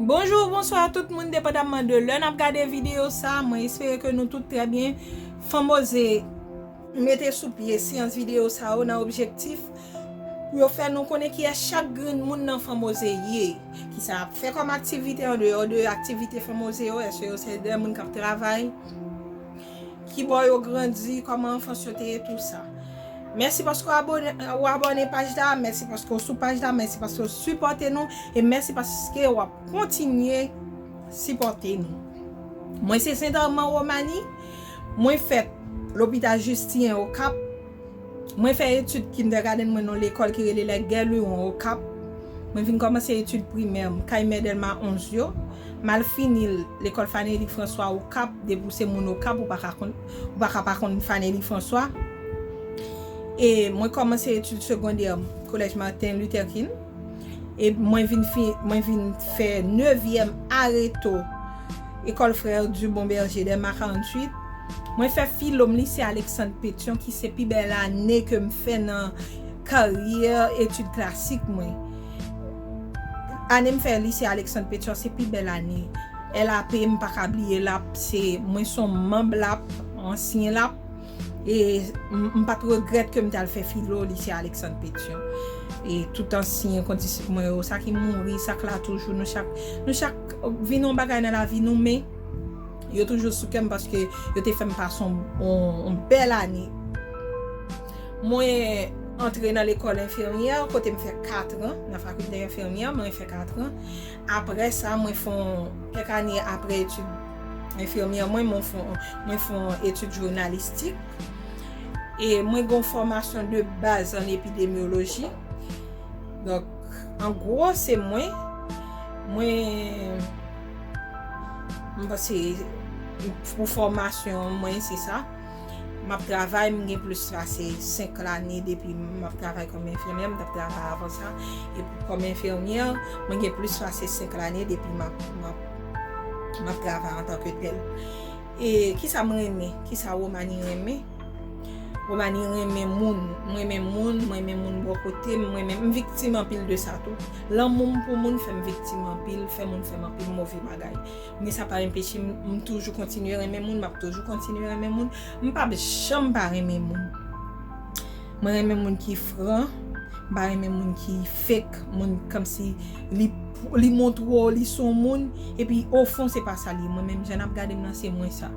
Bonjou ou bonswa tout moun depandamman de lè nap gade video sa mwen espere ke nou tout trè byen Fanmose mete sou pye seyans video sa yo nan objektif pou yo fè nou konnen kiyès chak grenn moun nan Fanmose ye kisa yap fè kòm aktivite andeyò de aktivite Fanmose yo eske yo se de moun kap travay Kibò yo grandi, kòman anfans yo te ye tou sa. Mèsi paske w abone ou abone paj la, mèsi paske w sou paj la, mèsi paske w sipòte nou e mèsi paske wap kontinye sipòte nou. Mwen se Sentèman Romani, mwen fèt Lopital Jistinyen Okap. Mwen fè etid kindègadenn mwen nan lekòl ki rele Les Gué Luron Okap. Mwen vin kòmanse etid primè m kay Mè Dèlma 11 yo. M al fini l lekòl Fanelly François Okap, depi w se moun Okap ou pa ka konn, ou pa ka pa konn Fanelly François. E mwen kòmanse etid segondè m Collège Martin Luther King. e mwen vin fin mwen vin fè nevyèm areto Ecole Frères du Bon Berger de Mack 48 mwen fè filo m Lycée Alexandre Pétion ki se pi bèl ane ke m fè nan karyè etid klasik mwen ane m fè Lycée Alexandre Pétion se pi bèl ane LAP m pa ka bliye lap se mwen son manb lap ansyen lap. e m pat regrèt ke m t al fè filo Lycée Alexandre Pétion e tout ansyen kondisip mwen yo, sa ki mouri, sa k la toujou, nou chak nou chak vin yon bagay nan lavi nou men yo toujou sou kè m paske yo te fè m pase yon bèl ane mwen antre nan lekòl enfimyè kote m fè katran nan fakilte enfimyè mwen fè katran apre sa mwen fè yon kèk ane apre etid. enfimyè mwen mwen fon etid jounalistik e mwen gen yon fòmasyon de baz an epidemyoloji donk an gwo se mwen mwen mwen se pou fòmasyon mwen se sa M ap travay, m gen plis pase 5 lane depi m ap travay kòm enfimyè, m t ap travay avan sa, kòm enfimyè, mwen gen plis pase 5 lane depi m ap m ap travay antan ke tèl. E ki sa m renmen, ki sa Romani renmen? Romani renmen moun, m renmen moun, m renmen moun bò kote m, m renmen, m viktim anpil de sa tou. Lanmou m pou moun fè m viktim anpil, fè moun fè m anpil move bagay. Men sa pa enpeche m, m toujou kontinye renmen moun, m ap toujou kontinye renmen moun. M pap janm pa renmen moun. Mwen renmen moun ki fran, m pa renmen moun ki fake, moun kòmsi li montre w li s on moun, epi ofon se pa sa l ye. Mwen menm, jan n ap gade m lan, se mwen sa.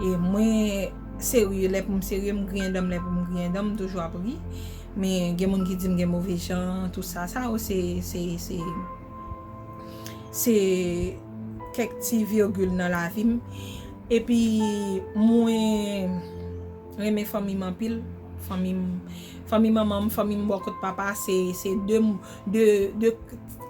E mwen serye lè pou m serye, m griyen dan m lè pou m griyen dan m, m toujou ap ri. Men gen moun ki di m gen move jan, tout sa. Sa yo se. Se kèk ti virgil nan lavi m. Epi mwen renmen fanmi m anpil. Fanmi manman m, fanmi m bò kot papa se 2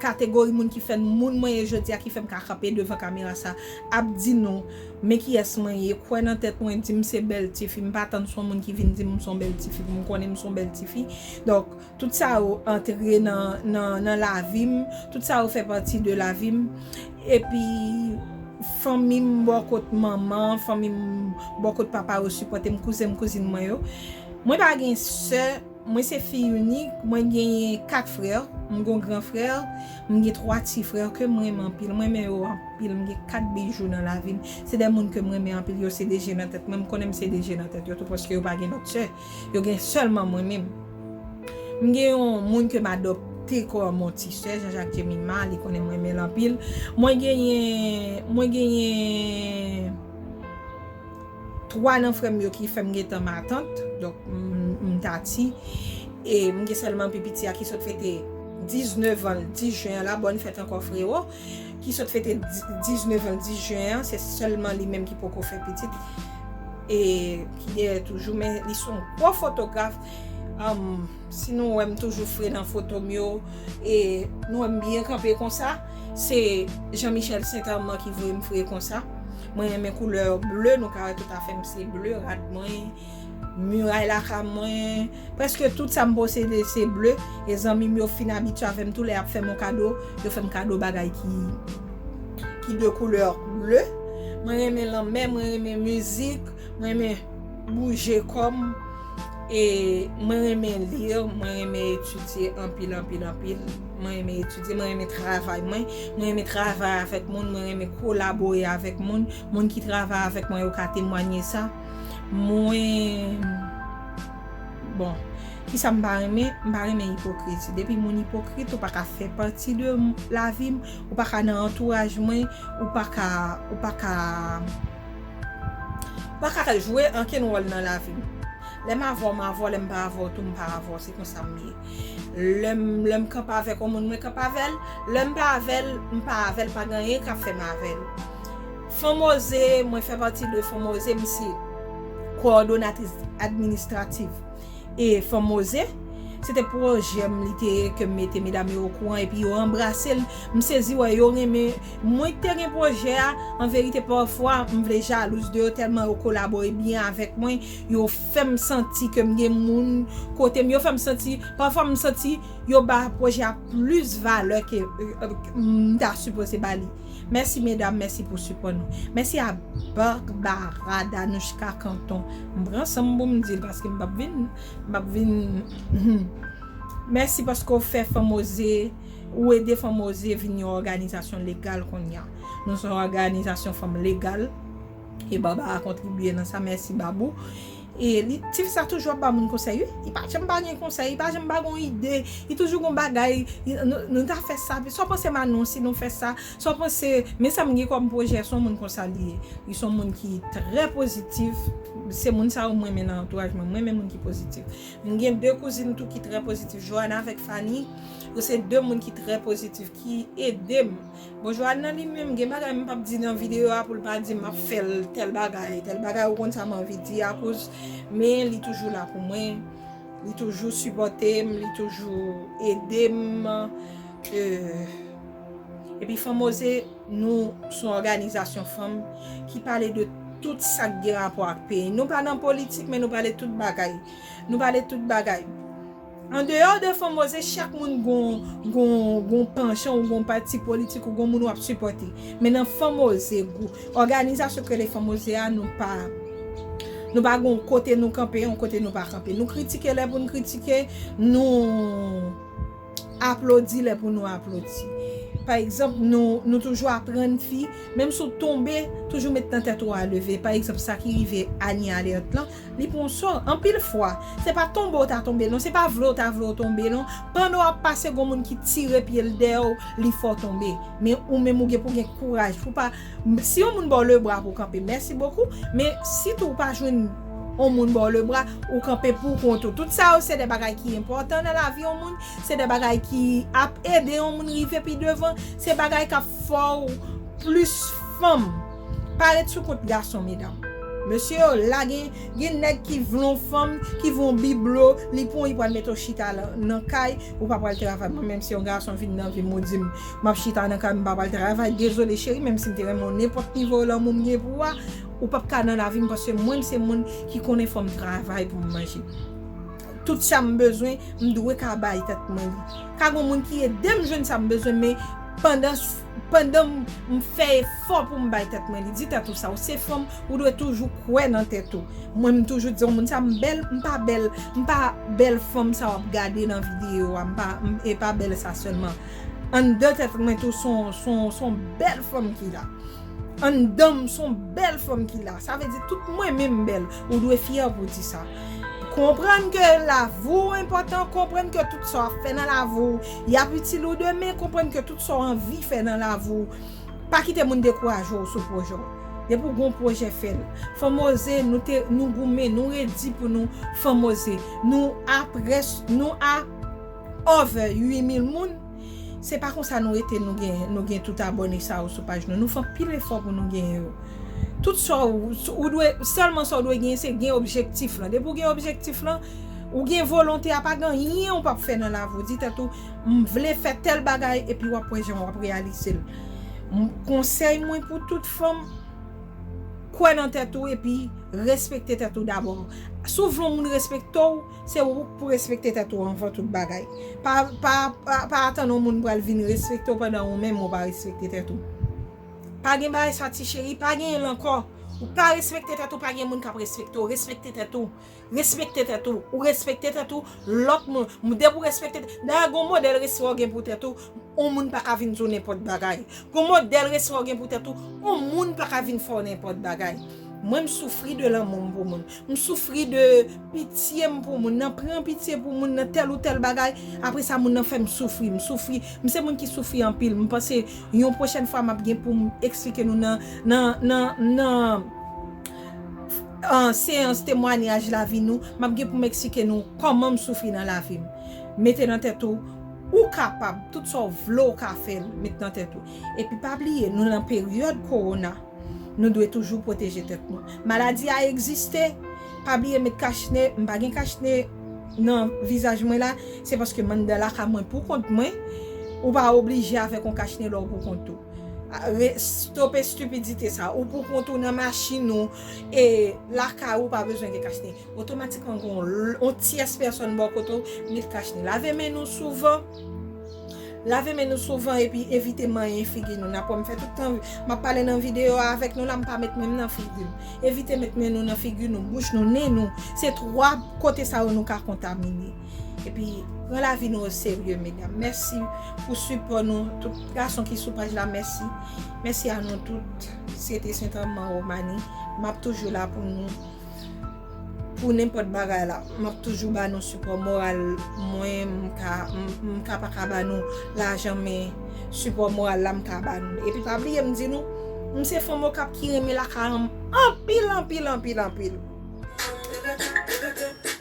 kategori moun ki fè m moun mwen ye jodi a ki fè m ka kanpe devan kamera sa ap di nou men kiyès mwen ye, kwè nan tèt mwen, di m se bèl tifi. M pa tann se yon moun ki vin di m m se yon bèl tifi pou m konnen m se yon bèl tifi. Donk Tout sa yo antre nan lavi m, tout sa yo fè pati de lavi m. Epi fanmi m bò kot manman, fanmi m bò kot papa yo sipòte m, kouzen m, kouzin mwen yo. Mwen pa gen sè, mwen se fi inik, mwen genyen 4 frè, m gon gran frè, m gen 3 ti frè ke m renmen anpil. M renmen yo anpil, m gen 4 bijou nan lavi m. Se de moun ke m renmen anpil, yo se 2 je nan tèt mwen, m konnen m se 2 je nan tèt yo tou paske yo pa gen lòt sè. Yo gen sèlman mwen menm. M gen yon moun ke m adopte kòm yon ti sè, Jean-Jacques Jemima, li konnen m renmen l anpil. Mwen genyen, mwen genyen 3 nan frè m yo ki fè m gen tan matant, donk m ta ti. E m gen sèlman pi piti a ki sot fete 19 an l 10 jen an la, bòn fèt ankò frero. ki sot fete 19 an 10 jen an se sèlman li menm ki poko fè pitit e ki deyè toujou men li son gwo fotograf si nou wè m toujou fre nan foto m yo e nou wè m byen kanpe konsa se Jean Michel Saint Armand ki voye m fre konsa mwen renmen koulè bleu nou ka wè tout afè m se bleu rad mwen. Miray lakay mwen, prèske tout sa m posede se ble, e zanmi m yo fin abitye avè m tou lè y ap fè m yon kado, yo fè m kado bagay ki de koulè ble. Mwen renmen lanmè, mwen renmen mizik, mwen renmen bouje kò m, e mwen renmen li, mwen renmen etidye anpil anpil anpil, mwen renmen etidye, mwen renmen travay mwen, mwen renmen travay avèk moun, mwen renmen kolabore avèk moun, moun ki travay avèk mwen yo ka temwanye sa. Mwen Bon Kisa m pa renmen, m pa renmen ipokriti. Depi moun ipokrit ou pa ka fè pati de lavi m, ou pa ka nan antouraj mwen, ou pa ka, ou pa ka, ou pa ka jwe ankenn wòl nan lavi m. Lè m avè w m avè w, lè m pa avè w tou m pa avè w. Se konsa m ye. Lè m, lè m kanpe avèk yon moun mwen kanpe avè l, lè m pa avè l, m pa avè l, pa gen anyen k ap fè m avè l. Fonmoze, Mwen fè pati de Fonmoze, m se kowòdonatris administratif e Fonmoze. Se te pwojè m, li te ke m mete medam yo okouran epi yo anbrase l. M sezi wè yo renmen mwen ki te gen pwojè a. An verite pafwa m vle jalouz de yo tèlman yo kolabore byen avèk mwen, yo fè m santi ke m gen moun kote m, yo fè m santi, pafwa m santi yo ba pwojè a plis valè ke m ta sipoze ba li. Mèsi medam mèsi pou sipò nou. Mèsi a Barbara Danushka Canton. M pran san m pou m di l paske m pap vin m pap vin humm mèsi paske w fè fanm oze ou ede fanm oze vin yon òganizasyon legal konnya nou son òganizasyon fanm legal e Barbara kontribye nan sa mèsi Babou Li tif sa toujou ap ba moun konsèy wi li pa janm pa gen konsèy li pa janm pa gen yon ide li toujou gen yon bagay nou ta fè sa sa w panse Manon si nou fè sa sa w panse men sa m gen kòm pwojè son moun konsa li ye li son moun ki trè pozitif se moun sa yo m renmen nan antouraj mwen m renmen moun ki pozitif m gen 2 kouzin tou ki trè pozitif Joana avèk Fani yo se 2 moun ki trè pozitif ki ede m. Bonjou Adnan li menm gen bagay m pap di nan video a poul pa dim map fèl tèl bagay tèl bagay ou konn sa m anvi di a kouz men li toujou la pou mwen li toujou sipòte m li toujou ede m epi fanm oze nou son òganizasyon fanm ki pale de tout sak gen rapò ak peyi nou pa nan politik men nou pale tout bagay nou pale tout bagay. Andeyò de Fonmoze chak moun gon panchan ou gon pati politik ou gon moun wap sipòte. Men nan Fonmoze gou òganizasyon ki rele Fonmoze a nou pa nou pa gon kote nou kanpe yon kote nou pa kanpe. Nou kritike lè pou nou kritike, nou aplodi lè pou nou aplodi. Pa egzanp nou toujou aprann fi menm si w tonbe toujou met nan tèt ou a leve. Pa egzanp sa ki rive Anie Alerte lan Li pou w sò, anpil fwa. Se pa tonbe w ta tonbe l non, se pa vle w ta vle w tonbe non. Pandan w ap pase gon moun ki tire pye l dèyè w, li fè w tonbe. Men ou menm ou gen pou w gen kouraj pou w pa, si yon moun ba w lebra pou w kanpe, mèsi bokou, men si tou ou pa jwenn yon moun ba w lebra, ou kanpe pou kont ou. Tout sa yo se de bagay ki enpòtan nan lavi yon moun, se de bagay ki ap ede yon moun rive pi devan, se bagay k ap fè w plis fèm. Pa ret sou kont gason medam. Mesye yo la gen gen nèg ki vle yon fanm ki vle yon biblo li pran w li pral mete w chita nan kay ou pa pral travay mwen menm si yon gason vin nan vim ou dim map chita nan kay m pa pral travay dezole cheri menm si m te renmen w nenpòt nivo lanmou m gen pou a ou pap ka nan lavi m paske mwen m se moun ki konnen fòm travay pou m manje tout sa m bezwen m dwe ka bay tèt mwen li ka gon moun ki edem jwenn sa m bezwen men pandan Pandan m fè efò pou m bay tèt mwen li, di tèt ou sa, ou se fanm, ou dwe toujou kwè nan tèt ou. Mwen m toujou di yon moun sa, m bèl, m pa bèl, m pa bèl fanm sa w ap gade nan videyo a, m pa, e pa bèl sa sèlman. Anndan tèt mwen tou s on, s on, s on bèl fanm ki la. Anndan m s on bèl fanm ki la. Sa vle di tout mwen menm m bèl. Ou dwe fyè pou w di sa. Konprann ke lavi w enpòtan, konprann ke tout sa w ap fè nan lavi w, y ap itil ou demen, konprann ke tout sa w anvi fè nan lavi w, pa kite moun dekouraje w sou pwojè w. Depi w gen yon pwojè, fè l. Fanmoze, nou te, nou goumen, nou redi pou nou Fanmoze. Nou a près, nou a over 8 mil moun. Se pa konsa nou rete nou gen nou gen tout abòne sa yo sou paj nou. Nou fè anpil efò pou nou genyen yo. Tout sa w, ou dwe, sèlman sa w dwe genyen se gen objektif lan. Depi w gen objektif lan, ou gen volonte a pa gen anyen ou pap fè nan lavi w. Di tèt ou, m vle fè tèl bagay epi wap wè jan wap reyalize l. Konsèy mwen pou tout fanm, kwè nan tèt ou epi respekte tèt ou dabò. Si w vle yon moun respekte w, Se ou k pou respekte tèt ou anvan tout bagay. Pa pa atann yon moun pral vin respekte w pandan ou menm ou pa respekte tèt ou. Pa gen bagay sa ti cheri, pa genyen l ankò. Ou pa respekte tèt ou pa gen moun k ap respekte w. Respekte tèt ou. Respekte tèt ou. Ou respekte tèt ou, lòt moun, depi w respekte tèt ou. Dayè gen yon modèl respè w gen pou tèt ou. On moun pa ka vin di w nenpòt bagay. Gon modèl respè w gen pou tèt ou, on moun pa ka vin fè w nenpòt bagay. Mwen m soufri de lanmou m pou moun. M soufri de pitye m pou moun, nan pran pitye pou moun nan tèl ou tèl bagay, apre sa moun nan fè m soufri. M soufri, m se moun ki soufri anpil. M panse yon pwochèn fwa m ap gen pou m eksplike nou nan, nan, nan, nan seyans temwanyaj lavi nou, m ap gen pou m eksplike nou kòman m soufri nan lavi m. Mete nan tèt ou. Ou kapab, tout sa w vle w ka fè l, met nan tèt ou. Epi pa bliye, nou lan peryòd kowona, nou dwe toujou pwoteje tèt nou. Maladi a egziste, pa bliye met kach ne, m pa gen kach ne nan vizaj mwen la, se paske m anndan lakay mwen pou kont mwen, ou pa oblije avèk yon kach ne lè w pou kont ou. Stope stipidite sa, ou pou kont ou nan machin ou, e lakay ou pa bezwen gen kach ne. Otomatikman gen yon tyès pèsòn bò kote w, met kach ni. Lave men nou souvan. Lave men nou souvan epi evite manyen figi nou. Nan pou m fè tout tan, m ap pale nan videyo a avèk nou la, m pa met men m nan figi m. Evite met men nou nan figi nou, bouch nou, nen nou. Se twa kote sa yo nou ka kontamine. Epi, pran lavi nou o serye, medam. Mèsi pou sipò nou. Tout gason ki sou paj la, mèsi. Mèsi a nou tout. Syete Sentranman Womani, m ap toujou la pou nou. Pou nenpòt bagay la, m ap toujou ba nou sipò moral mwen, m ka pa ka ba nou lajan men sipò moral la m ka ba nou. Epi pa bliye m di nou, m se fanm Okap ki renmen lakay an m anpil anpil anpil anpil.